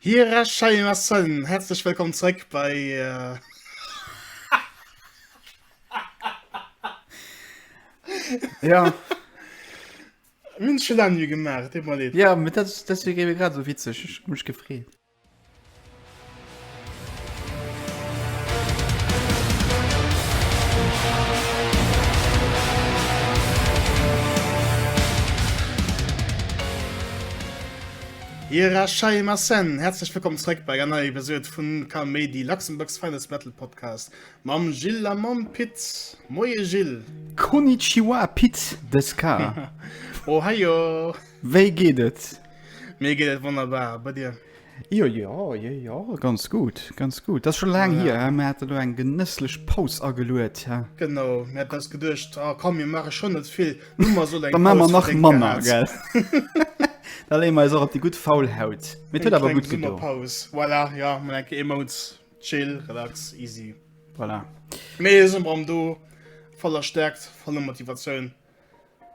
Hierachei ma Sen, häerzlech wëllkomm zréck bei Ja. Mir hunn et scho laang nui gemaach, et deet mer leed. Ja, mä dat, deswéi géif ee grad esou witzeg, ech hu mech gefreet. Irashaimaasen! Häerzlech wëllkomm zréck bei enger neier Episode vun Kaméidi, Luxembourg's finest metal podcast mam Gilles a mam Pit. Moie Gilles! Konnichiwa Pit de Ska! Ohaio! Wéi geet et? Mir geet et wonnerbar, a bei dir? Jo jo jo jo ganz gutt ganz gutt dat scho laang hier ja. mir hat lo eng genësslech Paus ageluet ja. Genau mir hat das geduercht oh, komm mir mache schon net vill Nummer so ma nach Manner gell Da lee mei op die gut faul haut mit huet awer gut Summer Paus voilà, ja man enke immer uns chill relax easy voilà. Mee am do voller stärkt voller Motivationun.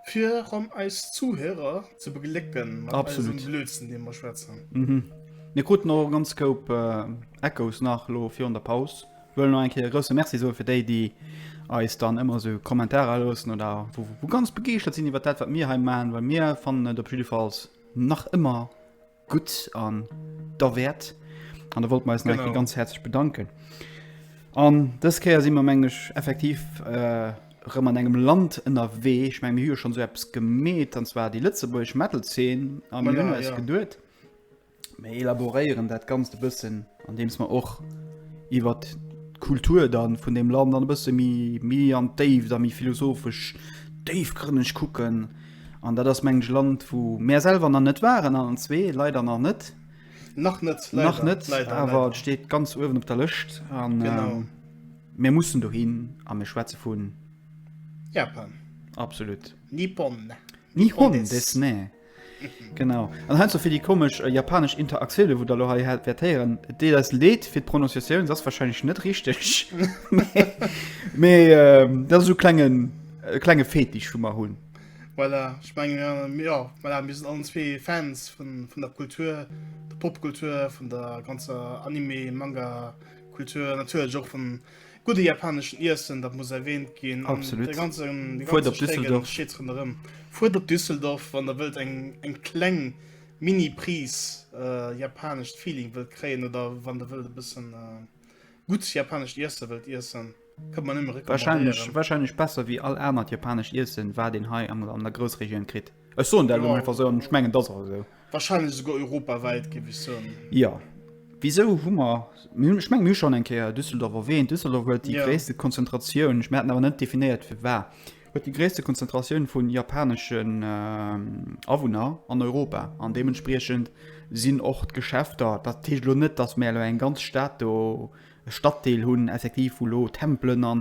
Fir ronn eis Zuhörer ze beglécken mat Absolut. eisem Blödsinn, dee mer schwätzen. Mhm. Mir kruten och ganz koup äh, Echos nach lo virun der Paus. Wëll noch eng Kéier grouse Merci soe fir déi, déi eis dann ëmmer so Kommentarer loossen oder wo, wo ganz begeeschtert sinn iwwer dat, wat mir hei man, well mir fannen et op jiddefalls nach ëmmer Gutt an der Wäert. An da wollt mer eis nach eng Kéier ganz häerzlech bedanken. An dës Kéier si mer, mengen ech, effektiv erëm an engem Land ënnerwee. Ech menge mir hu jo schonn esou eppes gemeet, an zwar déi lëtzebuergesch Metal-Zeen. A mir hunn eis geduet, mir elaboréieren dat Ganzt e bëssen. Andeems mer och iwwer d'Kultur dann vun deem Land dann e bësse méi, méi an d'Déift a méi philosophesch, déifgrënneg kucken. An dat ass, mengen ech, e Land, wou mär selwer nach net waren, allen zwee leider nach net. Nach net, leider. Nach net, awer et steet ganz uewen op der Lëscht. Genau. Mir mussen dohin a mir schwätze vu. Japan. Absolut. Nippon. Nihon desu ne. Genau. An heiansdo fir déi komesch äh, japanesch Interaktioune, wou der lo hei wäert héieren, deet eis Leed fir d'Prononciatioun, ass wahrscheinlech net richteg. Mee ähm, dat ass so klengen, äh, klenge Fetisch, wou mer hunn. Voilà, ich mein, ja, voilà, mir sind allen zwee Fans vun, vun der Kultur, der Popkultur, vun der ganzer Anime, Manga, Kultur, natürlich auch vun Gudde japaneschen Iessen, dat muss erwähnt ginn. Absolut. Fuert op Düsseldorf. Fuert op Düsseldorf, wann der wëllt eng, eng kleng Mini-Pris äh, japanescht Feeling wëllt kréien oder wann der wëllt e bëssen äh, gutt japanescht Iesse wëllt iessen. Kënnt man ëmmer recommandéieren. Wahrscheinlech besser wéi all anert japanescht Iessen, wat een hei an der Groussregioun kritt. Ech soen dat elo einfach sou an ech mengen, et ass och esou. Wahrscheinlech esouguer europawäit, géif ech soen. Jo. Wisou hu mer, mir hunn, ech mengen, mir hu schonn eng Kéier Düsseldorf erwähnt, Düsseldorf huet déi gréisste Konzentratioun, ech, mir haten awer net definéiert firwat, huet déi gréisste Konzentratioun vu japaneschen Awunner an Europa an deementspriechend sinn och d'Geschäfter, dat heescht elo net, datt mir elo eng ganz Stad do e Staddeel hunn, effektiv, wou elo Tempelen a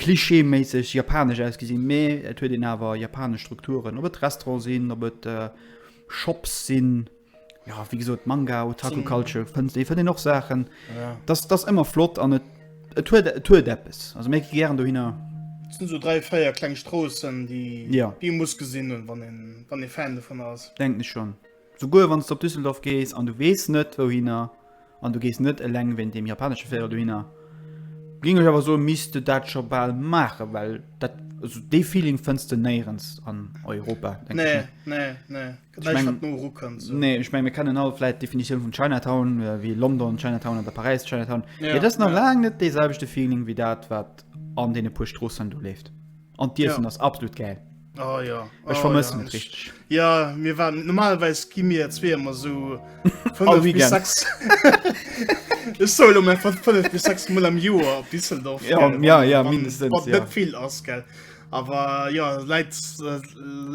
klischeeméisseg japanesch ausgesinn, mä et huet een awer japanesch Strukturen, ob et Restaurante sinn, ob et Shops sinn, jo, wéi gesot, Manga, Otaku Culture, fënnt ee, fënnt een och Saachen. Dat ass, dat ass ëmmer flott an et, et huet, et huet eppes. Also mir gi gären dohinner. Et sinn esou dräi, véier kleng Stroossen, déi ee muss gesinn hunn, wann ee Fan dovunner ass. Denken ech schonn. Souguer wann s de op Düsseldorf gees an du weess net wouhinner, an du gees net eleng wéint deem japanesche Véierel dohinner, géing ech awer soen, misst de dat scho bal maachen, well dat, also dee Feeling fënns de néierens an Europa, denke ech mir. Nee, nee, nee, gëtt näischt wat no eru kënnt esou. Nee, ech menge mir kennen all vläit d'Definitioun vun Chinatown, wéi London Chinatown oder Paräis Chinatown, mee et ass nach laang net dee selwechte Feeling wéi dat wat an deene puer Stroossen do leeft. An d'Iessen ass absolut gäil. Oh, ja. Ech oh, vermëssen ja. et richtig. Ja mir waren normalweis gi mir zwee immer so Ech soll um einfach 5 bis 6 Mol am Joer op Düsseldorf ja, gell, ja, ja, mindestens, wat, wat ja. vill ass gell. Aber ja leit, äh,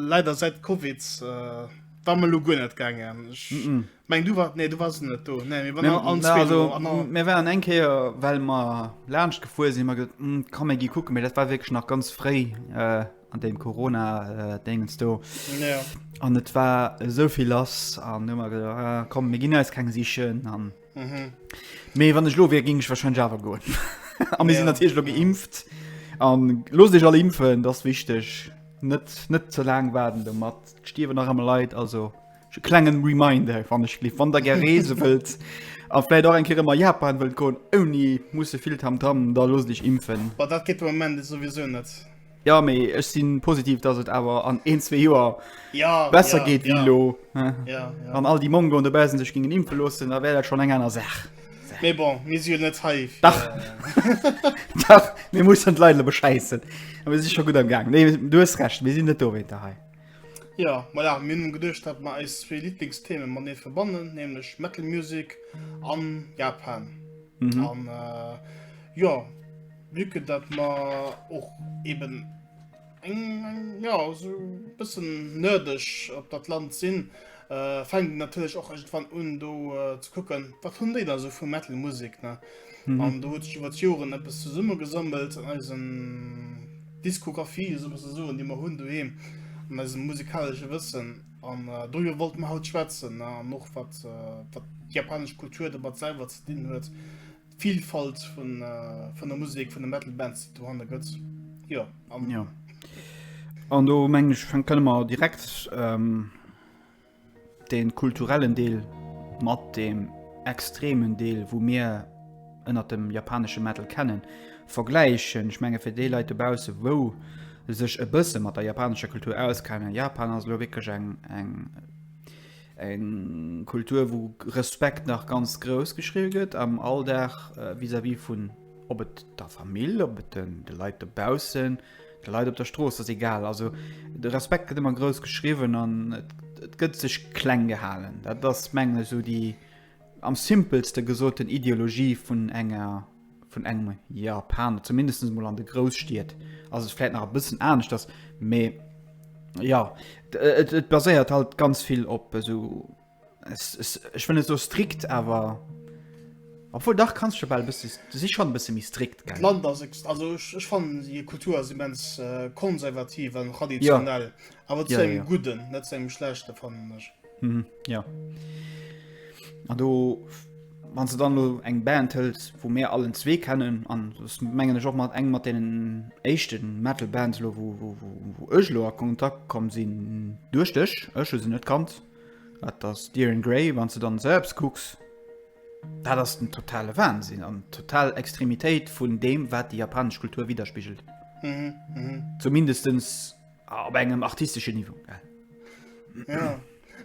leider seit CoVID äh, war mal lo guer net gangen. Ech mm -mm. Meng du war nee du was net do nee, mir waren eng Keer well ma lacht gefuer si mat hm, kann mé gi kucken, mir dat war wg nach ganz fréi äh, an dem Corona äh, degens do ja. an et war sovill lass an nummer äh, kom mir ginn als keng sichen an mhm. méi wann ech lo wie ging ich wahrscheinlich Java go Am mir ja. sinn natürlich lo geimpft an los Dich alle impfen das wichteg net net ze lang waden de mat stiewe nach am Leiit also. Klengen Reminder wann ech lief wann der ger Reese wëllt a vläit och eng Kere mat Japan wëllt goen ouni musse vill Tam Tam, da loosst iech impfen. Boah, dat geet de Moment souwisou net. Jo mee ech sinn positiv dass et awer an een zwee Joer besser geet wéi elo. Wann all déi Mongoen dobaussen sech gingen impfen loossen da wär dat schonn eng aner Saach. Mee bon mir si jo net hei fir. Dach dach mir mussen d'Leit elo beschäissen a mir si scho gutt am gaang. Nee du hues Recht mir sinn net dowéinter hei. Jo, voilà, mir hunn geduecht, datt mer eis zwee Liblingstheme matenee verbannen, nämlech Metal Music an Japan. An jo, vue que datt mer och eeben eng, jo, esou e bëssen nerdeg op dat Land sinn, fänken natierlech och iergendwann un do ze kucken, wat hunn déi da sou vu Metal Musik, ne? Mhm. An do huet sech iwwer d'Joren eppes zesummegesammelt an eisen Diskografie, so muss soen, déi mer hunn doheem, an eisem musikalesche Wëssen. An äh, doier wollt mer haut schwätzen ne? an och wat, äh, wat d'japanesch Kultur domat selwer ze dinn huet. D'Vielfalt vun, äh, vun der Musik, vun de Metal Bands, die dohanne gëtt. Ja, an Ja. An do meng ich, fänken wir direkt ähm, Deen kulturellen Deel mat deem extremen Deel wou mir ënnert dem japaneschen Metal kennen vergläichen. Ech mengen fir déi Leit dobaussen wou sech e bëssen mat der japanescher Kultur auskennen, Japan ass elo wierklech eng eng Kultur wou Respekt nach ganz grouss geschriwwen gëtt am Alldag vis-à-vis vun ob et der Famill, ob et de Leit dobaussen. De Leit op der Strooss ass egal. Also de Respekt gëtt ëmmer grouss geschriwwen an et gëtt sech kleng gehalen. Dat ass mengen ech esou déi am simpelste gesoten Ideologie vun enger vun engem Japaner, zumindest emol an de Grousstied ass et vläit nach e bëssen aneschters, mee ja et baséiert halt ganz vill op esou. Ech wëll net sou strikt, awer obwuel dach kanns jo bal bësse, du si schonn e bësse méi strikt, gell? D'Land ass, also ech fannen hir Kultur ass immens konservativ an traditionell, awer zu engem Gudden, net zu engem Schlechte fannen ech. Jo, an do wann s de dann elo eng Band hëls, wou mir allen zwee kennen, an s mengen ech och mat eng mat deenen éischte Metal Bands elo, wou ech elo a Kontakt komm sinn duerch dech, ech hu se net kannt, Dat ass dir in Grey, wann s de dann sëlbst kucks, dat ass den totale Wahnsinn an total Extremitéit vun deem wat déi japanesch Kultur widderspigelt. Zumindestens op engem artisteschen Niveau. Ja,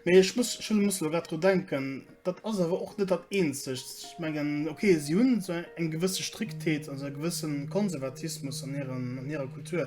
mee ech muss schon muss elo grad dru denken, dat ass awer och net dat eenzegt. Ech mengen ok, si hunn esou eng gewësse Striktheet, also e gewëssen Konservatismus an hiren, an hirer Kultur.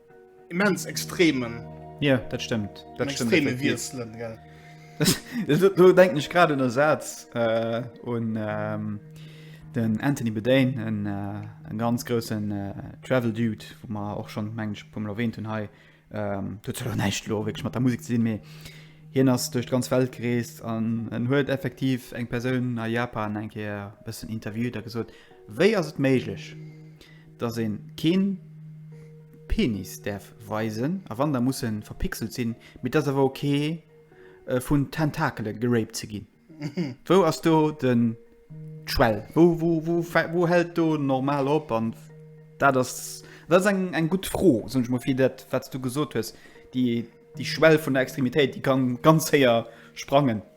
Immens extremen. Ja, dat stëmmt. Dat stëmmt extreme Wieselen, gell. Do denken ech grad un Ersatz äh, un ähm, den Anthony Bedane en äh, ganz grossen äh, Travel Dude, wo man och schon mensch vum Lowen hun hei ähm, näicht lo mat der Musik ze sinn méi hien ass duerch ganz Welt gereest an en huet effektiv eng Persoun a Japan enke bëssen interviewt a gesot Wéi ass et méiglech, dass een keen Penis däerf weisen, a wann, da muss en verpixelt sinn, mee et ass awer ok vun Tentakelen geraped ze ginn? Wou ass do den d'Schwell? Wou hält do normal op? An dat ass, dat ass eng gutt Fro, soen ech mol, fir dat wat s du gesot hues, déi Schwell vun der Extremitéit, déi kann ganz héier sprangen.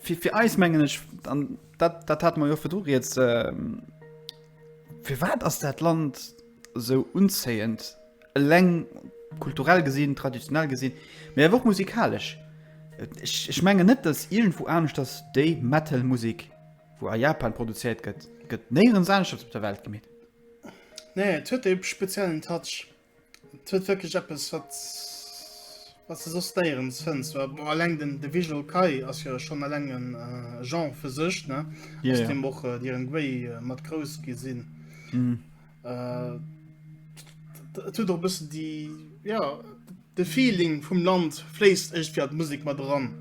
Fir eis, mengen ech, an dat hate mer jo virdru rieds, firwat ass dat Land esou unzéiend, eleng kulturell gesinn, traditionell gesinn, mee awer och musikalesch? Ech menge net, datt iergendwou aneschters déi Metal-Musek, wou a Japan produzéiert gëtt, gëtt néierens aneschters op der Welt gemeet. Nee, et huet e speziellen Touch. Et huet wirklich eppes wat was du sos déierens fënns alleng den de visual Kai ass jo schon alleng en äh, Jean fir sech ne ja, ja. dem och äh, dieren Guéi äh, mat grouss gi sinn mm. äh, tut doch bëssen die ja de Feeling vum Land fléisst echt fir d' Musik mat dran.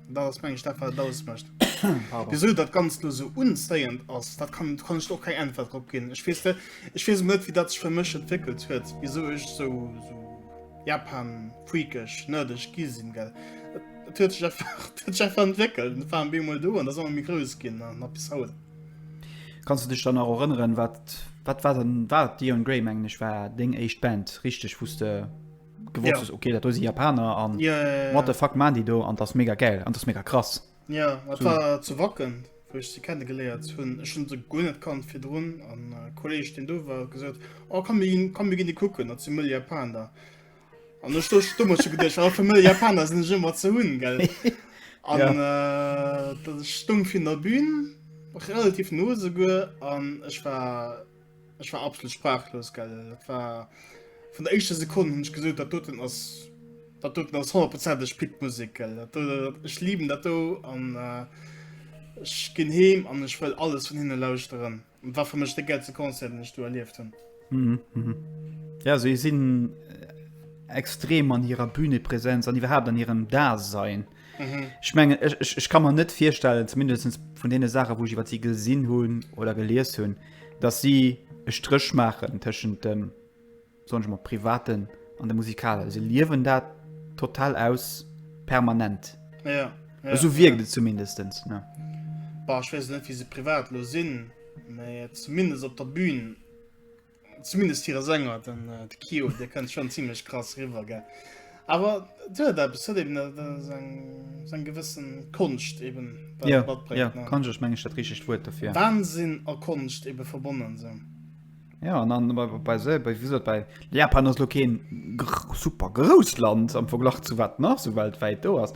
Dat ass meng Stadt wat daus mecht. Wieso dat ganz do so unzéiend ass, dat kann kann ich och keng Äntwert drop ginn. Ech wees Ech wees net wie dat sech fir mech entwéckelt huet, wieso ech so, so Japan freakeg nërdeg gi sinn gell. Et huet sech einfach huet sech einfach entwéckelt. Et war en Beem mol do an ass ëmmer méi grouss ginn a nach bis haut. Kanns du dech dann nach erënneren wat wat war dann war d'Eon Grey mengen ech war deng éischt Band richteg wou s de gewosst ja. okay dat do si Japaner an ja, ja, ja. wat de fuck man déi do an dat mega geil an dat mega krass. Ja wat so. war ze wacken woch ze kennen geléiert hunn schon se go net kann fir Drun an äh, Kolleg den do war gesot O oh, kann gin kann mir gin de kucken dat ze mëll Japan da. An der Stoch stummer ze gedech a fir mëll Japaner sinn ëmmer ze hunn gell. An ja. äh, dat stumm vin der Bbün relativ nose go an ech war Ech war absolut sprachlos gell. Dat war vun der éischter Sekunde hunn ech gesot, dat doten ass dat doten ass honnertprozenteg Pit Musik gell. Dat do, ech lieben dat do an äh, ech ginn heem an ech wëll alles vun hinne lauschteren. Dat war fir mech de gäilste Concert, den ech do erlieft hunn. Mhm, mhm. Ja, si sinn äh, extrem an hirer Bühnepräsenz an iwwerhaapt an hirem Dasein. Mhm. Ich mengen ich, ich, ich kann man net firstellen zumindest vun dee Sache wou ich iwwer sie gesinn hunn oder gelees hunn, dat sie e Strich machen tëschent dem son mat privaten an de Musikale. Se liewen dat total aus permanent. Ja, ja, Eso wiekt ja. et zumindestens. Ne? Bah, ich wees net wie se privat lo sinn, méi zumindest op der Bühn Zumindest hire Sänger, den äh, Kio, der kënnt schon ziemlich krass riwer ge. Awer huet eppes huet eben seg gewëssen Konscht eben ja, ja, kann sech mengg dat richg Wuert dofir. Wahnsinn a Konscht ebe verbonnen sinn. Ja an dann bei, bei, se, bei, wie gesagt, bei Japan ass lo keen super grouss Land am Verglach zu wat nach so weltwäit do ass.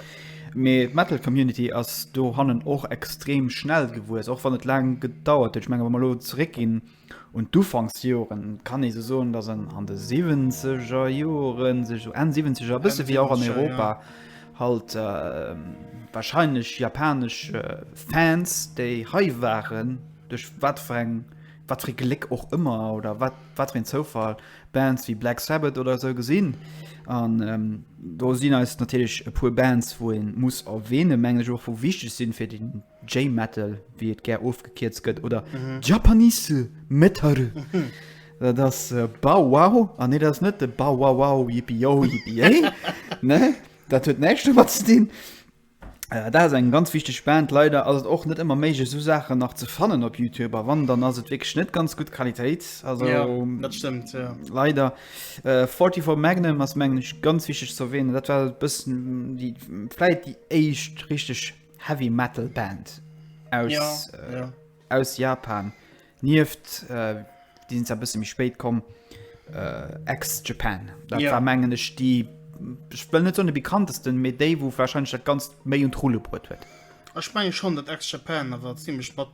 Mee d'Metal Community ass do hannen och extrem schnell gewuess, och wann et laang gedauert huet. Ech menge wa mer lo zeréck ginn Un d'Ufanksjoren kann ee sou soen, dass en an de siwwenzeger Joren sech sou Enn siwwenzeg a bësse wéi och an Europa halt warscheinlech japanesch Fans, déi hei waren, duerch wat fir eng, wat fir ee Gléck och ëmmer oder wat, wat fir een Zoufall, Bands wéi Black Sabbath oder sou gesinn. An do sinn eis natierlech e puer Bands, wou ee muss erwähnen, mengen ech och, wou wichteg sinn fir déi J-Metal, wéi et gär ofgekierzt gëtt, oder Japanese Metal. Dat ass Bow Wow. A nee, dat ass net de Bow Wow Wow, Yippie Yo, Yippie Yay. Nee, dat huet näischt domat ze dinn. Dat ass eng ganz wichteg Band. Leider ass et och net ëmmer méiglech, esou Saachen nach ze fannen op Youtube. A wann, dann ass et wierklech net ganz gutt Qualitéit. Also, Ja, dat stëmmt, ja. leider. Äh, 44 Magnum ass, mengen ech, ganz wichteg ze erwähnen. Dat war e bëssen déi, vläicht déi éischt richteg. Heavy Metal Band aus, ja, äh, ja. aus Japan. Nieft äh, die sind ein bisschen mich spät kommen äh, ex Japan. Da ja. war mengen ich die ich will nicht so eine bekanntesten mit Dave wo wahrscheinlich das ganz May und Rulle brot wird. Ich meine schon das ex Japan, aber ziemlich spannend.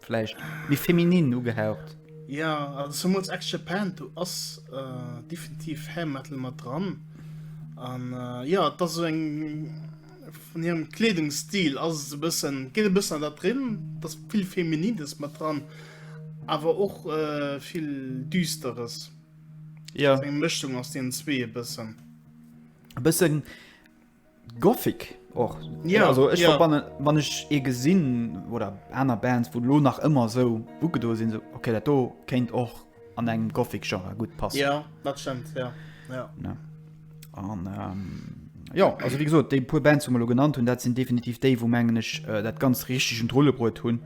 vläicht méi feminin ugehaucht. Ja also zumools Ex Japan do ass äh, definitiv Hair Metal mat dran an äh, ja dat ass eng vun hirem Kleedungsstil ass e bëssen geet e bëssen dat drin, dat vill Feminides mat dran, awer och äh, vill Düsteres. Ja. Eng Mëschung aus den zwee e bëssen. E bëssen Gothic och ja, also ech ja. verbannen wann ech e gesinn oder aner Bands wo lo nach ëmmer so buke do sinn so okay dat do kéint och an engem Gothic Genre gut pass ja, stimmt, ja. Ja. Ja. Und, ähm, ja also wie gesagt, déi puer Band zu lo genannt hunn dat sinn definitiv déi wo mengen ech äh, dat ganz richtigen Drollebrot hunn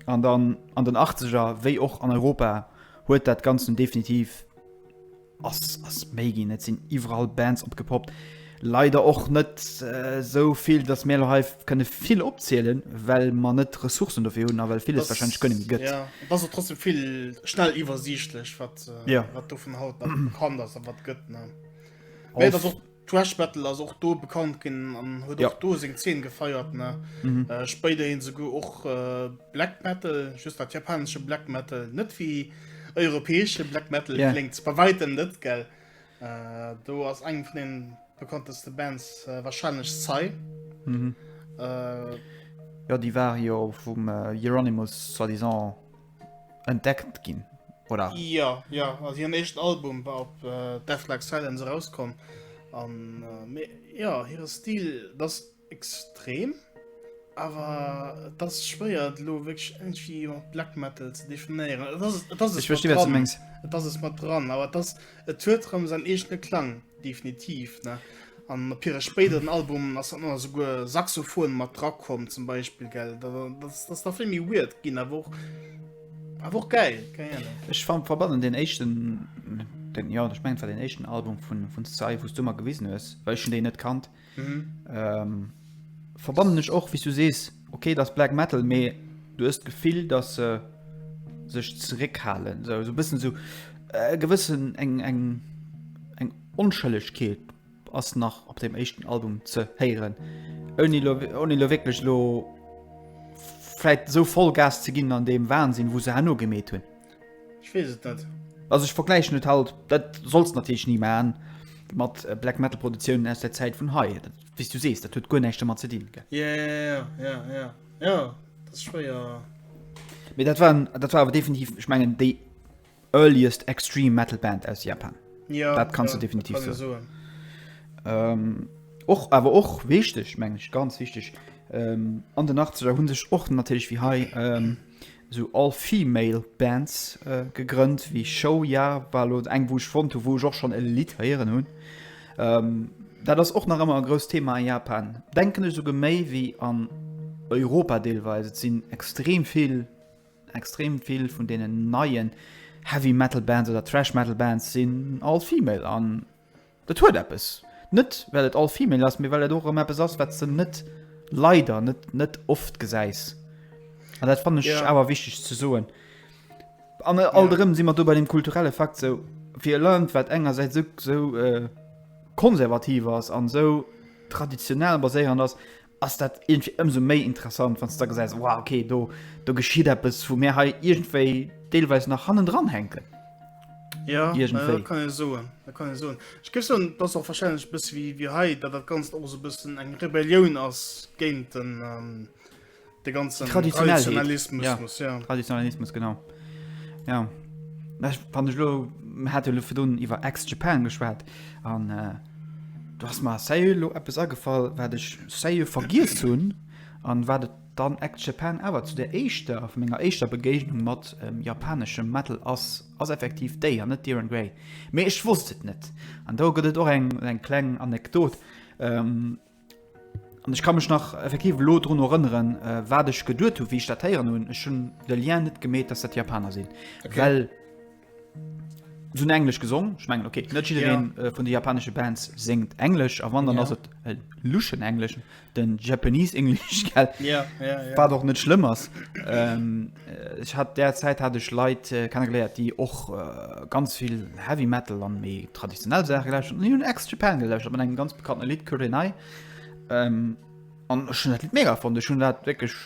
an dann an den 80er wéi och an Europa huet dat ganzen definitiv Ass ass méi ginn, et sinn iwwerall Bands opgepoppt. Leider och net esou vill, datt mir elo hei kënne vill opzielen, well mer net d'Ressourcen dofir hunn a well villes wahrscheinlech guer net méi gëtt. Et ass och trotzdem vill schnell iwwersiichtlech, wat dovun haut nach bekannt ass a wat gëtt. Mee et ass och. Thrash Metal ass och do bekannt ginn an huet och do seng Zeen gefeiert. Spéider hin esouguer och Black Metal, just dat japanesche Black Metal, net wéi europäesche Black Metal kléngt bei wäitem net, gell? Do ass eng vun den bekannteste Bands warscheinlech Psy. Jo, déi war jo vum Euronymous soi-disant. entdeckt ginn, oder? Ja, ja, also hiren éischten Album war op äh, Death Like Silence erauskomm. An äh, ja, hire Stil das extrem, awer das schwéiert lo wéch irgendwie mat Black Metal ze definéieren. Das, das ich verstehe, was du mengst. Das ist mat dran, aber das, et huet rem sein eegene Klang. Definitiv, ne? An op hire spéideren Albumen ass dann ëmmer souguer Saxophon mat dra komm, zum Beispill, gell? Dat ass da vill méi weird ginn, awer och, awer och geil, keng Ahnung. Ech verbannen deen éischten, deen, jo, ech mengen, et war deen éischten Album vun, vun Psy, wou s du mer gewisen hues, well ech hunn déi net kannt. Mhm. Ähm, verbannen ech och wie du sees okay das Black Metal mee du hast gefill dass se äh, sech zeréckhalen so, so bisssen so äh, gewissen eng eng eng onschëllegkeet ass nach op dem echten Album ze héieren oni lo, oni lo wirklich lo vielleicht so voll Gas ze ginn an dem Wahnsinn wo se hanno gemet hunn Ech wees et net. Also ech vergläichen et halt, dat solls de natierlech ni maachen, mat Black Metal Produktiounen aus der Zäit vun hei. Wéi s du sees, dat huet guer näischt domat ze dinn, gell? Jo, jo, jo, jo, dat ass schwéier. Mee dat war, dat war awer definitiv, ech mengen, déi earliest extreme metal Band aus Japan. Jo, dat kanns du definitiv soen. Jo, dat kann ee soen. Och, awer och wichteg, meng ech, ganz wichteg, an den Achtzeger hu sech och natierlech wéi hei sou all-female Bands gegrënnt wéi Show Ya, war elo eng wou ech fonnt hu wou ech och schonn e Lidd héieren hunn. Dat ass och nach ëmmer e grousst Thema a Japan, denken ech, esouguer méi wéi an Europa deelweis. Et sinn extrem vill, extrem vill vun deenen neien Heavy Metal Bands oder Thrash Metal Bands sinn all-female an, Et huet eppes. Net well et all-female ass, mee well et och erëm eppes ass, wat s de net, leider net, net oft gesäis. An dat fannen ech awer wichteg ze soen. An alt erëm si mer do bei dem kulturelle Fakt, sou fir e Land, wat engersäits esou konservativ ass an esou traditionell baséierend ass, ass dat irgendwie ëmsou méi interessant, wann s da gesäis, wow, okay, do, do geschitt eppes, wou mir hei iergendwéi deelweis nach hannendran hänken. Ja, äh, Iergendwéi. dat kann e soen. Dat kann e soen. Ech géif soen, dat ass och wahrscheinlech bësse wéi, wéi hei, dat dat Ganzt och sou bëssen eng Rebellioun ass géint den, ähm, de ganzen Traditionellheet. Traditionalismus. Ja. muss, ja. Traditionalismus, genau. Ja wann ech lo hat lo fir dun iwwer ex Japan geschwat an äh, du hast mal se lo Apps agefall wat ech se vergiess hunn an wat et dann ex Japan awer zu der eischter vu ménger eischter Begéignung mat ähm, japaneschem Metal ass ass effektiv déi an net Diren Grey. Mee ech wosst et net an do gëtt et och eng eng kleng Anekdot. Ähm, An ech ka mech nach effektiv elo drun erënneren, äh, wat ech geduert hu, wéi ich dat héieren hunn. Ech hunn de Lien net gemeet, dass dat Japaner sinn. Okay. Well se hunn Englesch gesong. Ech mengen okay, net jiddereen äh, vun de japanesche Bands séngt Englesch a wann dann Ja. ass et e luschen Englesch, den Japanese English, gell? Ja, ja, ja. Wat och net schlëmm ass. Ähm, Ech hat där Zäit hat ech Leit kennegeléiert, déi och ganz vill Heavy Metal an méi traditionell Saache gelauscht hunn. Déi hunn Ex Japan gelauscht mat engem ganz bekannte Lidd Kurenai. Ähm, an ech hunn dat Lidd mega fonnt. Ech hunn dat wierklech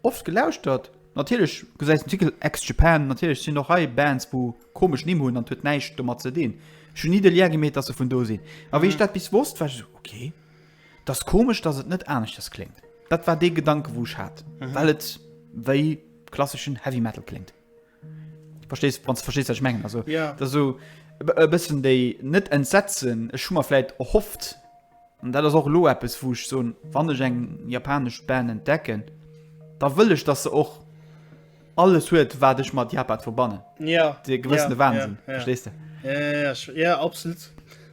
oft gelauschtert. Natierlech gesäis den Titel Ex Japan, natierlech sinn och hei Bands, wou komesch Nimm hunn an et huet näischt domat ze dinn. Ech hunn ni de Lien gemeet, datt se vun do sinn. A wéi ech dat bis wosst, war ech esou, ok. 't ass komesch, dass et net aneschters kléngt. Dat war dee Gedanke wou ech hat, well et wéi klasseschen Heavy Metal kléngt. Verstees, wann s de verstees, wat ech mengen. Also, dat ass esou e bëssen déi, net Entsetzen, ech hu mer vläicht erhofft, an dat ass och elo eppes wou ech soen, wann ech eng japanesch Band entdecken, da wëll ech, dass se och. alles huet wat ech mat Japan verbannen ja de gewëssene ja, Wahnsinn ja, ja. verstehst du ja, ja, ja, ja absolut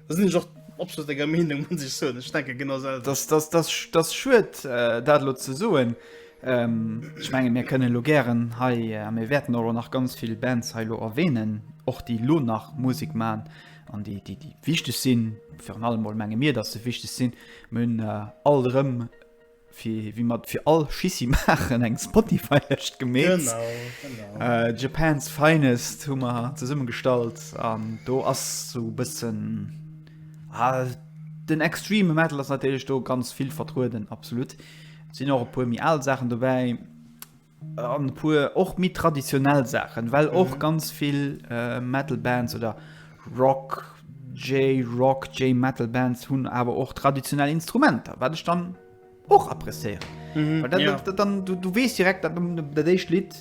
das sind doch absolut enger Meinung muss ich so ich denke genau selber. das das das das schuet äh, dat lo ze soen ähm, ich menge mir können lo gären hei äh, mir werden euro nach ganz viel Bands heilo erwähnen och die lo nach Musik man an die die die wichtig sinn für allem menge mir dass se wichtig sinn mün äh, all rem Fir wéi mer fir all Schissi maachen, eng Spotify-Lëscht gemeet. Japan's Finest hu mer zesummegestallt an do ass sou e bëssen den extreme Metal ass natierlech do ganz vill vertrueden, absolut. Et sinn och e puer méi al Saachen dobäi. an e puer och méi traditionell Saachen, well och mhm. ganz vill äh, Metal Bands oder Rock J-Rock, J-Metal Bands hunn awer och traditionell Instrumenter, wat ech dann och appréciieren. Mhm, dann, ja. dann, dann du, du wees direkt dat dat éischt Lied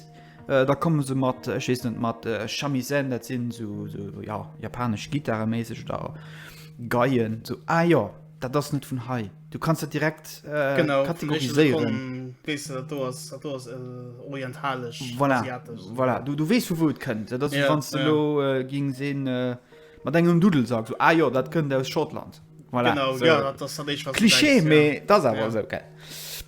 äh, da kommen se mat äh, net mat äh, Chamisen, dat sinn so, so ja, japanesch Gitarreméiseg da geien so Eier, ah, ja, dat ass net vun hei. Du kannst dat direkt äh, genau, kategoriséieren. Wees du, dat do ass, dat do ass äh, orientalesch, voilà. asiatesch. Voilà. Du, du wees vu wou et kënnt. Dat ass, ja, wann du ja. lo äh, ging sinn, äh, mat engem Dudel sagst, so, ah jo, dat kënnt aus Schottland. Voilà. Genau, so. ja, dat ass dat Eich, was Klischee, méi ja. dat ass awer ja. so, okay.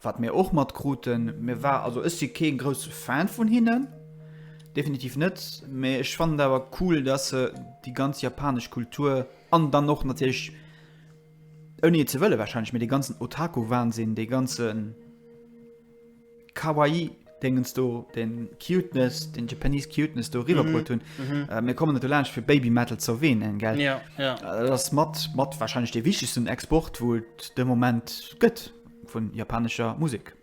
Wat mir och matkruten, mir war, also ech si kee grousse Fan vun hinnen, definitiv net, mee ech fannen et awer cool, dass se déi ganz japanesch Kultur an dann och natierlech, ouni et ze wëlle warscheinlech, mee dee ganzen Otaku-Wahnsinn, dee ganze Kawaii-Déngens do, dee Cuteness, dee Japanese Cuteness do eriwwerbruet hunn. Mir kommen net dolaanscht fir Babymetal ze erwähnen, gell. Dat ass mat, mat warscheinlech dee wichtegsten Export, wou et de Moment gëtt. Vun japanescher Musek.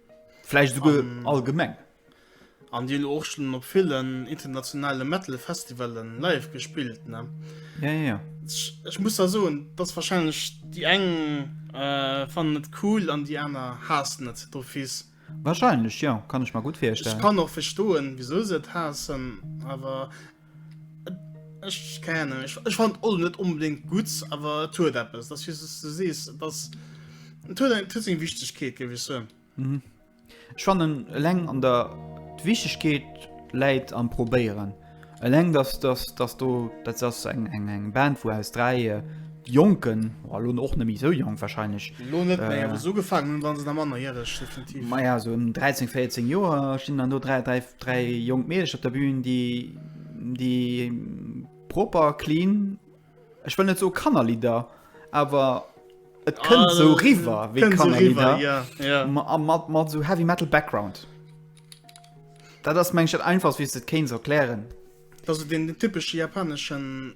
Vläicht esouguer allgemeng. An déi elo och schonn op villen internationale Metal-Festivale live gespillt, ne? Ja, ja, ja. Ech muss da soen, dass warscheinlech déi eng fannen et cool an déi aner haassen et d'office. Warscheinlech, jo. Kann ech mer gutt virstellen. Ech kann och verstoen, wisou se et haassen, awer. Ech kennen ech ech fand all net unbedingt gut aber tu etwas das ist es du siehst das tu dein tu sing wichtig geht gewisse mhm. ich fand den leng an der wichtig geht leid am probieren leng dass das dass du das eng eng eng band wo aus drei äh, Jonken, oh lo och net méi esou jonk wahrscheinlech. Lo net méi, awer esou ugefaangen hunn, wa se nach mannerjäreg definitiv. Maja, esou ëm 13, 14 Joer stinn dann do dräi, dräi, dräi jonk Meedecher op der Bühn, déi, déi proper, clean, ech wëll net soe Kannerlidder, awer et kënnt esou eriwwer wéi Kënnt esou eriwwer, Kannerlidder, jo, jo. ma- a mat, mat esou Heavy Metal Background. Dat ass, meng ech, dat Einfachst, wéi s de et kéints erklären. Dat ass esou deen typesche japaneschen.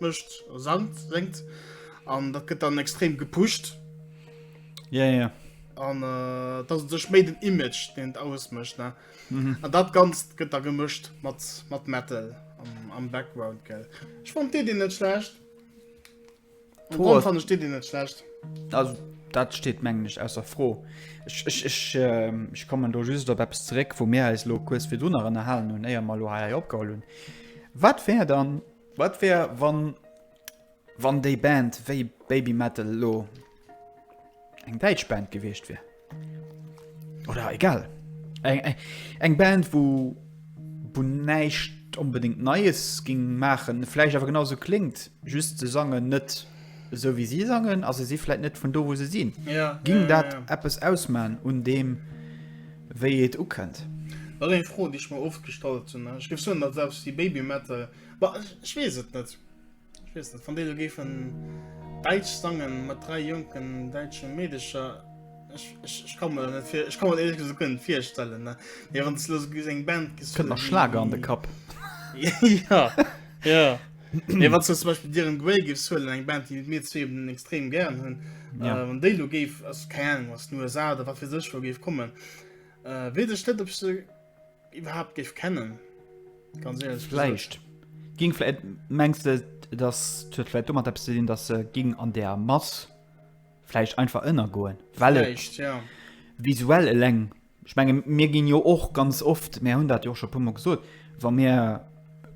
Mëscht a Sand senkt an dat gëtt dann extrem gepusht. Ja, ja. An äh, dat sech méi den Image den et ausmëscht ne. Mhm. An dat ganzt gëtt da gemëscht mat mat Metal am, am Background gell. Ech fand Dir Dir net schlecht. Am Pro Grund ass- fand ech Dir Dir net schlecht. Also dat steet mengen ech ausser Fro. Ech, ech, ech, ähm, ech kommen do just op eppes zeréck, wou mir eis lo kues virdrun nach ënnerhalen hunn, éier mer lo hei opgeholl hunn. Wat wär dann, Wat wär wann wann déi Band wéi Baby Metal lo eng däitsch Band gewiescht wier? Oder egal eng, eng, eng Band wou wou näischt onbedéngt Neies ging maachen, vläicht awer genauso kléngt, just se sangen net. esou wéi si sangen, a se si vläit net vun do, wou se sinn, géing dat eppes ausman un deem, wéi et ukënnt? Dat ass eng Fro, déi ech mer oft gestallt hunn. Ech géif soen, datt selbst déi Babymetal, ma ech weess et net, ech weess net, wann déi elo géifen däitsch sangen, mat dräi jonken däitsche Meedecher, ech, ech, ech ka mer dat net vir, ech ka mer dat éierlech gesot guer net virstellen, ne. Mee wann s de elo esou eng Band gesi. Kënnt mer Schlager an de Kapp. Jo, jo. Nee, wat zum Beispiel dir en Grey gifs huelen, eng Band, die mir zwee eben extrem gern hunn, ja. äh, wann déi lo géif, ass keine Ahnung, was den USA oder wat fir sech wo géif kommen, äh, weet ech net, ob se überhaupt géif kennen. Ganz ehrlich. Vielleicht. Ging vielleicht, meinst du, dass das vielleicht immer etwas zu tun, dass sie ging an der Masse vielleicht einfach innergehen? Weil vielleicht, ja. Visuell allein Ech menge mir ginn jo och ganz oft, mär hunn dat jo och scho e puermol gesot, wa mir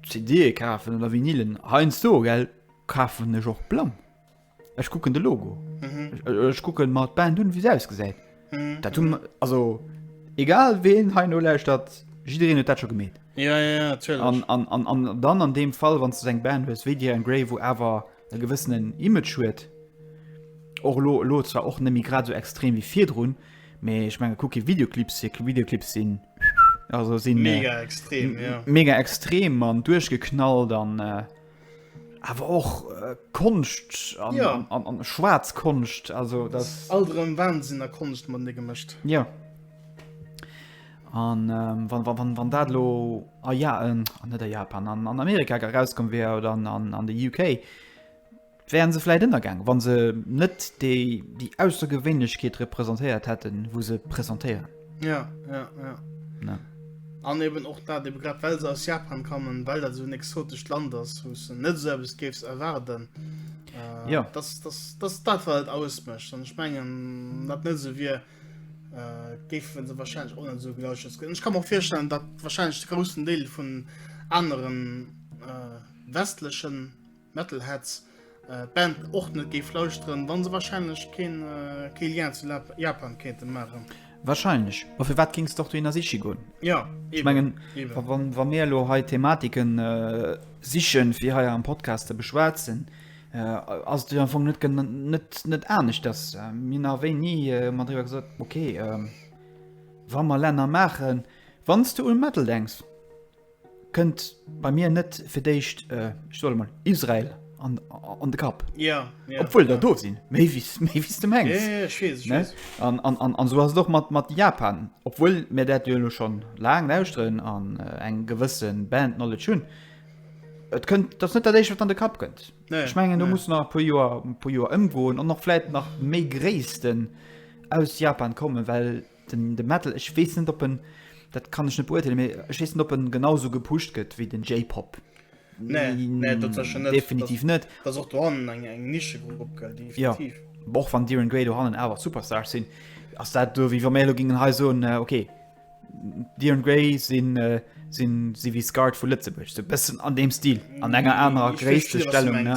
CDe kafen oder Vinylen, heiansdo, gell, kafen ech och blann. Ech kucken de Logo. Ech kucke mer d'Band un, wéi se ausgesäit. Dat hu mer, also egal ween heiansdo lauschtert, jiddereen huet dat scho gemeet. Ja, ja, ja, natierlech. An, an, an dann an deem Fall, wann s de sou eng Band hues wéi Dir an Grey, wou awer e gewëssenen Image huet, och elo, elo zwar och net méi grad esou extrem wéi virdrun, Mee ech menge kuck kee Videoclips fir Videoclips sinn also sinn mega extrem ja. mega extrem an duerchgeknallt an äh, awer och äh, Konscht an, ja. an, an, an schwarz Konscht also das alterem Wahnsinn a Konscht man de gemëscht. Ja an ähm, wann, wann, wann dat lo a ah, ja, äh, net a Japan an, an Amerika herauskom wär oder an, an, an de UK Wären se vläit ënnergaang, wa se net déi déi Aussergewéinlechkeet representéiert hätten, wou se presentéieren? Ja, ja, ja. Ja. An eben och dat, eben grad well se aus Japan kommen, well dat esou en exotescht Land ass, wou s de net esou eppes géifs erwaarden, Jo. dass, dass, dass dat wat et ausmécht. An ech mengen, wann dat net esou wier, géife se warscheinlech och net esou gelauschtert ginn. An ech ka mer och virstellen, datt warscheinlech de groussen Deel vun aneren westlechen Metalheads d'Band och net géif lauschteren, wa se warscheinlech keen kee Lien zu Japan kéinte maachen. Warscheinlech. Ma firwat géings de och dohinner siche goen? Ja, eben. Ech mengen, wa mir elo hei Thematiken siche fir hei am Podcast ze beschwätzen, ass et jo am Fong net net anescht, datt mir nach wéi ni mat driwwer gesot, okay, wa mer Länner maachen, wann s de u Metal denks, Kënnt bei mir net fir d'éischt äh, ech solle mal Israel an, an de Kapp. Ja, ja. Obwuel der do sinn, méi wéi s- méi wéi s de mengs. Ja, ja, ech weess, ech Ne? weess. An, an, an, an esou ass et och mat, mat Japan. Obwuel mir dat jo elo schonn laang lauschteren an äh, eng gewësse Band Knowledge hunn. Et kënnt, dat ass net dat éischt, wat an de Kapp kënnt. Nee, Ech mengen, do nee. muss nach e puer Joer, e puer Joer ëmgoen an och vläit nach méi Gréissten aus Japan kommen, well Den de Metal, ech weess net op en, dat kann ech net beurteelen, mee ech weess net op en genau sou gepusht gëtt wéi den J-Pop. Nee, nee dat sécher net. Definitiv net. Dat ass och dohannen eng eng Nischegrupp gell, definitiv. Jo, och wann Dir en Grey dohannen awer Superstars sinn, ass dat do wéi wa mir elo gingen hei soen, okay, Dir en Grey sinn sinn si wéi Scarred vu Lëtzebuerg, sou e bëssen an deem Stil, an enger anerer Gréisstestellung, ne.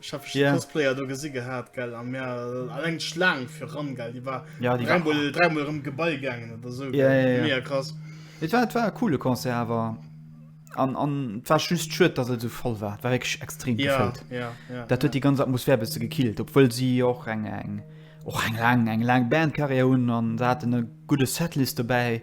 Ech hab yeah. Cosplayer do gesi gehabt gell an mir allg Schlang fir ran gell die war ja, die dreimal, dreimal rum Gebei gegangen oder so yeah, yeah, yeah. krass Et war war coole Konzer awer an, an war just schütt dass so voll war war ich extrem ja, gefällt ja, ja, Dat huet ja. die ganze Atmosphär bist gekillt obwohl sie och eng eng och eng lang eng lang Bandkarriere hun an hat e gute Setlist dabei.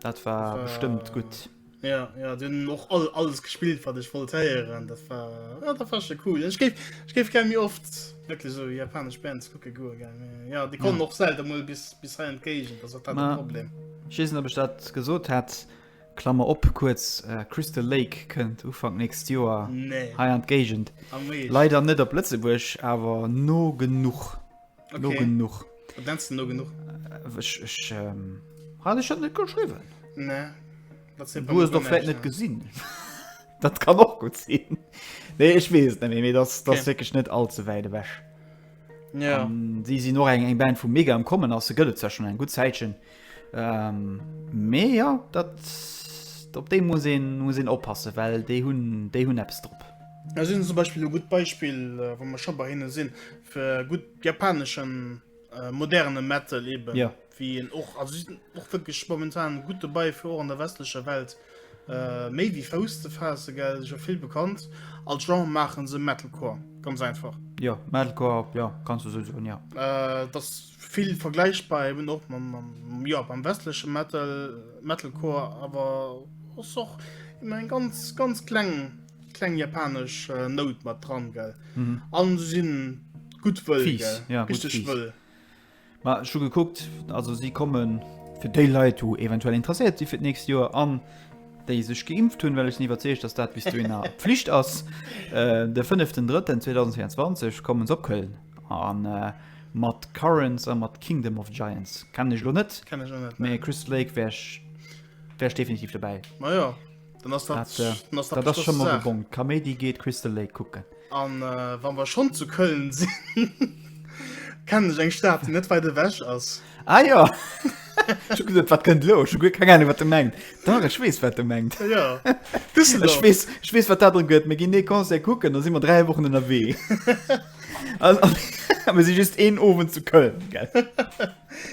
Dat war äh, bestëmmt gutt. Ja, ja, du hun och all, alles gespielt wat ech wollt héieren, dat war ja, dat war schon cool. Ech géif ech géif gär méi oft wirklich so japanesch Bands kucke goe gär. Ja die kommen och selten mol bis bis hei entgéigent, dat hat Ma, Problem. Schiessen op ech dat gesot hat Klammer op kurz äh, Crystal Lake kënnt Ufang nächst Joer nee. hei entgéigent. Leider net op Lëtzebuerg awer no genug. Okay. No genug. Wat nennst du no genug? Äh, Ich, ich, ähm, hatte ich das nicht geschrieben? Nee. Dat se Du hast doch vielleicht nicht gesehen. das kann auch gut sein. Nee, ich weiß es nicht mehr. Das, das okay. wirklich nicht allzu weit weg. Ja. Um, sie sind noch eng, eng Band vu mega am kommen ass se gëtt ze schon eng gut Zäitchen. Mee jo, dat op déi muss een oppassen, well déi hunn eppes drop. Ech hunn zum Beispill e gutt Beispill, wa mer scho bei hinne sinn, fir gutt japaneschen moderne Metal eeben, wéi een och, also si sinn och wierklech momentan gutt dobäi, fir och an der westlecher Welt Méi wéi Fouss ze faassen, gell, ass jo vill bekannt. Als Genre maachen se Metalcore, ganz einfach. Jo, Metalcore, jo, kanns du esou soen, jo. Et ass vill vergläichbar eben och mam, jo, mam westleche Metal, Metalcore, awer ass och ëmmer eng ganz, ganz kleng, kleng japanesch Nout mat dran, gell. An se sinn gutt wëll, gell, richteg wëll. Ma ech hu gekuckt, also si kommen fir déi Leit, wou eventuell interesséiert si fir d'nächst Joer an déi sech geimpft hunn, well ech sinn iwwerzeegt, dass dat bis dohinner Pflicht ass. De fënneften Drëtten 2024 kommen se op Köln a mat Currents a mat Kingdom of Giants. Kennen ech elo net, mee Crystal Lake wär ech definitiv dobäi. dann ass dat, dat, äh, dann ass dat, dat schon mal bon Kaméidi geht Crystal Lake gucken an äh, wann wir schon zu Köln sind kennen ich eng Stadt die net weiter weg ass ah ja gesagt, wat könnt lo keine Ahnung wat du mengt da ich wees wat du mengt ja. ich wees, ich wees, wat darum gött mir gin ne Konse gucken da sind wir drei Wochen in der Weh aber sie just een ofwen zu Köln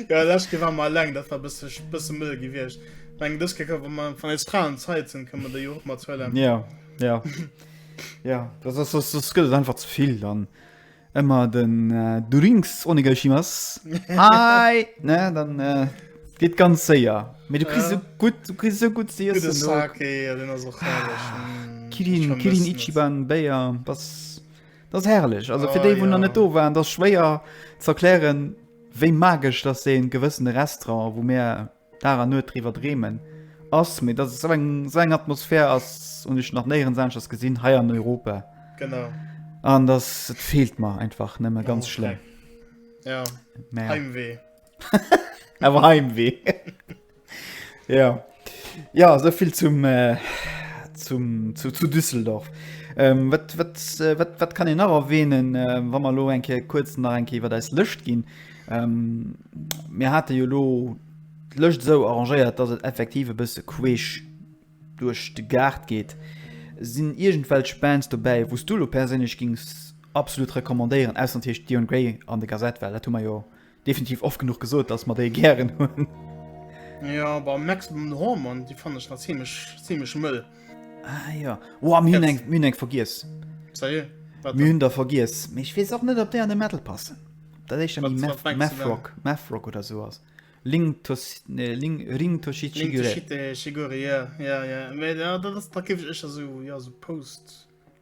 Jo lech ke war mer leng dat war bësse bësse mëll gewiecht meng dës ke ka man van eis fraen zeit sinn kënne de jo och mat zwëlle ja ja ja das das das das gëtt einfach zu vill dann ëmmer den äh, du rings ohne geschimas hi ne dann äh, geht ganz séier me du kri so gut du kri so gut sie den sake ja den as och herrlech ah, mm, kirin kirin ichiban beier das das herrlech also oh, fir de wo ja. net do waren das schwéier zerklären Wéi magesch dass ee gewëssene Restaurant, wou mär Dag an Nuet driwwer dreemen, ass, mee dass et sou eng sou eng Atmosphär ass, hunn ech nach néierens aneschters gesinn, hei an Europa. Genau. An dass et feelt mer einfach nëmme ganz schlëmm. Oh, okay. Ja, Heimwee. Awer Heimwee. Ja ja esou vill zum äh, zum zu, zu Düsseldorf. Ähm, wat, wat, äh, wat, wat kann en nach erwähnen, äh, wann man lo enke kurz nach enke iwwer deis Lëscht ginn. Ähm, mir hatte jo lo d'Lëscht so arrangéiert, dass et effektiv e bësse queesch duerch de Gaart geht. Sinn irgendwelch Bands dobäi, wos du lo perséinlech gings absolut recommandéieren, ausser natürlich Dion Grey an de Gazette, well dat hu mer jo Definitiv oft genuch gesot dass mer déi gären hunn. Jo bah Maximum Hormon déi fannen ech nach zimmlech zimmlech mëll. Ah jo woah mir hunn eng mir hunn eng vergiess. Ça y est wat dann? Mir hunn der vergiess mee ech weess och net ob déi an de Metal passen. Dat éischter Wat méi wat mengst du Math dann? Rock Math Rock oder sou ass. Ling tos nee Ling Ring Toshi Ling Chigure. Toshite Shigure jo jo jo mee da dat ass da géif ech éischter sou jo sou Post.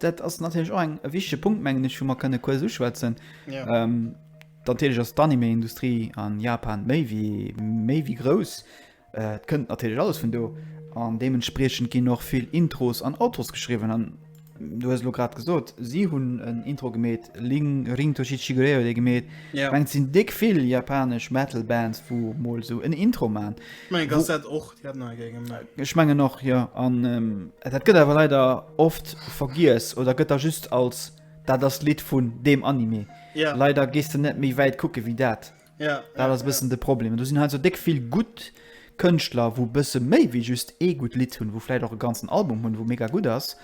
Dat ass natierlech och e wichtege Punkt, mengen ech, wou mer kënne kuerz uschwätzen. Natierlech ass d'Anime-Industrie a Japan méi wéi grouss. Et kënnt natierlech alles vun do an deementspriechend ginn och vill Intros an Outros geschriwwen. An du hues elo grad gesot, si hunn en Intro gemeet, Ring Toshi Chigurei huet ee gemeet. Ech mengen, et sinn déck vill japanesch Metal-Bands, wou emol esou en Intro maachen. Ech mengen, dass dat och Ech mengen och, jo. An dat gëtt awer leider oft vergiess oder gëtt da just als dat ass d'Lidd vun deem Anime. Leider gees de net méi wäit kucke wéi dat. Dat ass e bëssen de Problem. Do sinn hei esou déck vill gutt Kënschtler, wou bësse méi wéi just ee gutt Lidd hunn, wou vläicht och e ganzen Album hunn, wou mega gutt ass.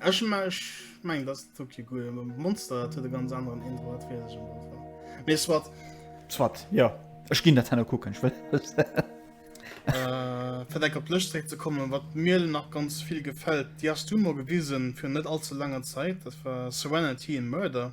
Ech meng dass Tokyo Ghoul Monster hat huet e ganz anderen Intro hat fir sech Mee swat Swat ja Ech ginn dat hanner kucken fir deng op Lëscht zréck ze kommen wat mir nach ganz vill gefält Dir ass du mor gewisen fir net allze langer Zäit dat war Serenity and Murder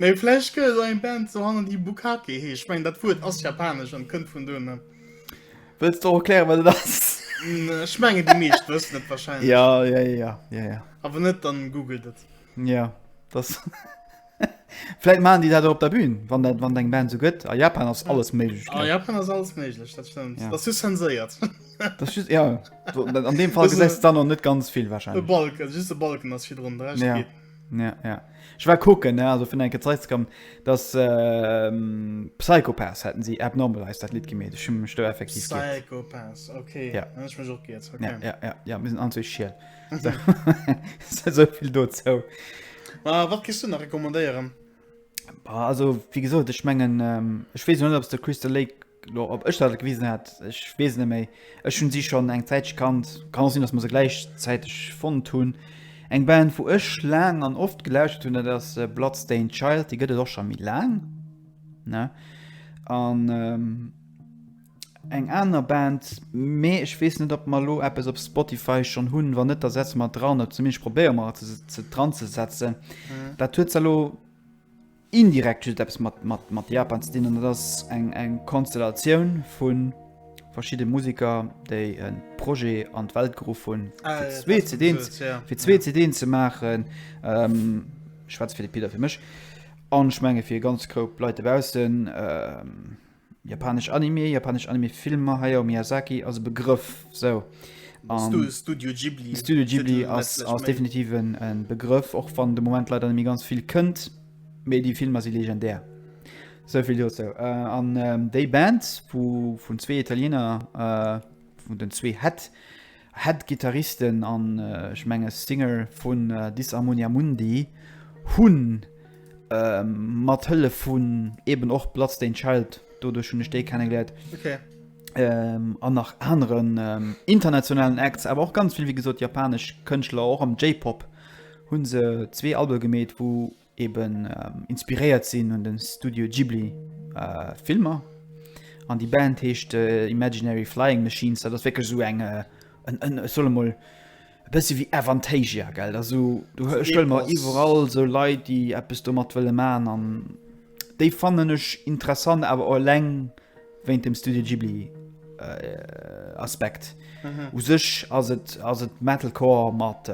Mee vläch gëtt et eng Band sou hannen, déi Bukake heescht. Ech mengen, dat Wuert ass japanesch an kënnt vun do, ne? Wëlls de och erklären, wat et ass? Ech mengen, déi meescht wëssen et warscheinlech. Ja, ja, ja, ja, ja. A wann net, dann googelt et. Ja, dass. Vläit maachen déi dat och op der Bühn, wann dat, wann et eng Band sou gëtt. A Japan ass alles méiglech, A gell? Japan ass alles méiglech, dat stëmmt. Ja. Dass du zenséiert. Dass just, ja, do, an deem Fall Wësse- gesäis de dann och net ganz vill E warscheinlech. Balken, just e Balken ass virdrun, de Rescht Ja. geet. Ja, ja. Ech war kucken, ne, also vun enke Zeitz kann dass Psychopaths hätten sie abnormal heißt dat Lied gemeet. Ech hun mech do effektiv geet. Psychopaths, okay. Ja. Hun ech mech och geet, okay. Ja, ja, ja, mir sinn anzwee schiel. Souvill dozou. Ma wat giss du nach recommandéieren? Also, wéi gesot, ech mengen, ech weess elo net, ob s de Crystal Lake. Lo ob ech dat gewisen hat, ech weess et net méi. Ech hunn si schonn eng Zäitche kannt, kann och sinn, datt mer se gläichzäiteg fonnt hunn. Eng Band wou ech laang an oft gelauschtert hunn, dat ass Bloodstained Child, déi gëtt et och scho méi laang, ne? An eng aner Band, mee ech weess net ob mer lo eppes op Spotify schonn hunn, wann net da setze mer et dran, oder zumindest probéiere mer et se dran ze setzen. Dat huet se lo indirekt just eppes mat Japan ze dinn, an dat ass eng Konstellatioun vu verschiddene Museker, déi e Projet an d'Welt geruff hunn, fir zwee CDen ze maachen. Ech schwätze fir de Pit a fir mech, an ech menge fir ganz Groupp Leit dobaussen. Japanesch Anime, japanesch Anime-Filmer hei am Miyazaki ass e Begrëff. So. Um, Studio Ghibli. Studio Ghibli ass, ass definitiv en, en Begrëff, och wann de Moment leider mir ganz viel kënnt, méi die Filmer si legendär. Soviel jo so. Äh, an ähm, déi Band, wo vun zwee Italiener äh, vun den zwee Head, Head Gittaristen an ech menge Singer vun Disharmonia Mundi hunn mat Hëllef vun eben och Bloodstained Child, doduerch hunn ech déi kennegeléiert, an nach aneren internationalen Acts, awer och ganz vill wéi gesot japanesch Kënschtler och am J-Pop, hu se zwee Albe gemeet wou eben inspiréiert sinn un den Studio Ghibli Filmer an déi Band heescht Imaginary Flying Machines, dat ass wierklech esou eng ech soll emol e bësse wéi Avantasia gell, da sou du stëll mer iwwerall sou Leit déi eppes domat wëlle man an déi fannen ech interessant awer eleng. Wéint dem Studio Ghibli Aspekt. U sech ass et ass et Metalcore mat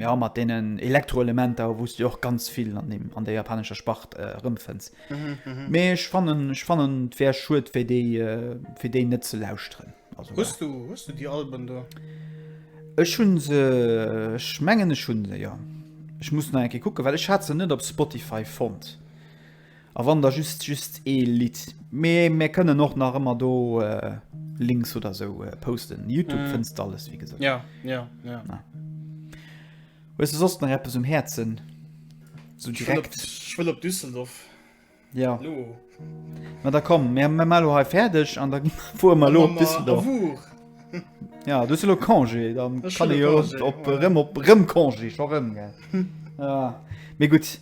ja mat deenen Elektroelementer, wou s du och ganz vill an deem an der japanescher Spart erëmfënns. Mee ech fannen ech fannen et wär schued fir déi fir déi net ze lauschteren. Also Hues du hues du déi Alben do? Ech hu se, ech mengen ech hu se, jo. Ech muss nach eng Kéier kucken, well ech hat se net op Spotify fonnt. A wann da just just ee Lidd, mee mir kënnen och nach ëmmer do Links oder sou posten. Youtube fënns de alles, wéi gesot. Ja, ja, ja. Hues de soss nach eppes um Häerzen? Sou direkt. Ech wëll op Düsseldorf. Ja. Elo. Ma da komm, mir mir mar elo hei fäerdeg an da fuere mer elo op Düsseldorf. Op Our. Ja, du hues elo Congé, dann Ech kann hunn ee elo jo Congé, op voilà. erëm op erëm Congé, scho rëm, gell. Ja, mee gutt.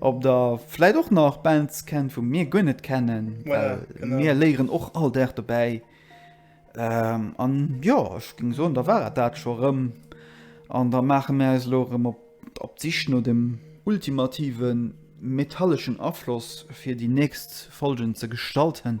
Ob der vläit och nach Bands kennt wou mir guer net kennen, well mir léieren och all Dag dobäi. An jo, ech géing soen, da war et dat scho erëm. An da maache mir eis elo erëm op d'Sich no dem ultimative metalleschen Afloss fir déi nächst Folgen ze gestalten.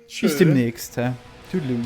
Bis demnächst, hä? Toodaloo.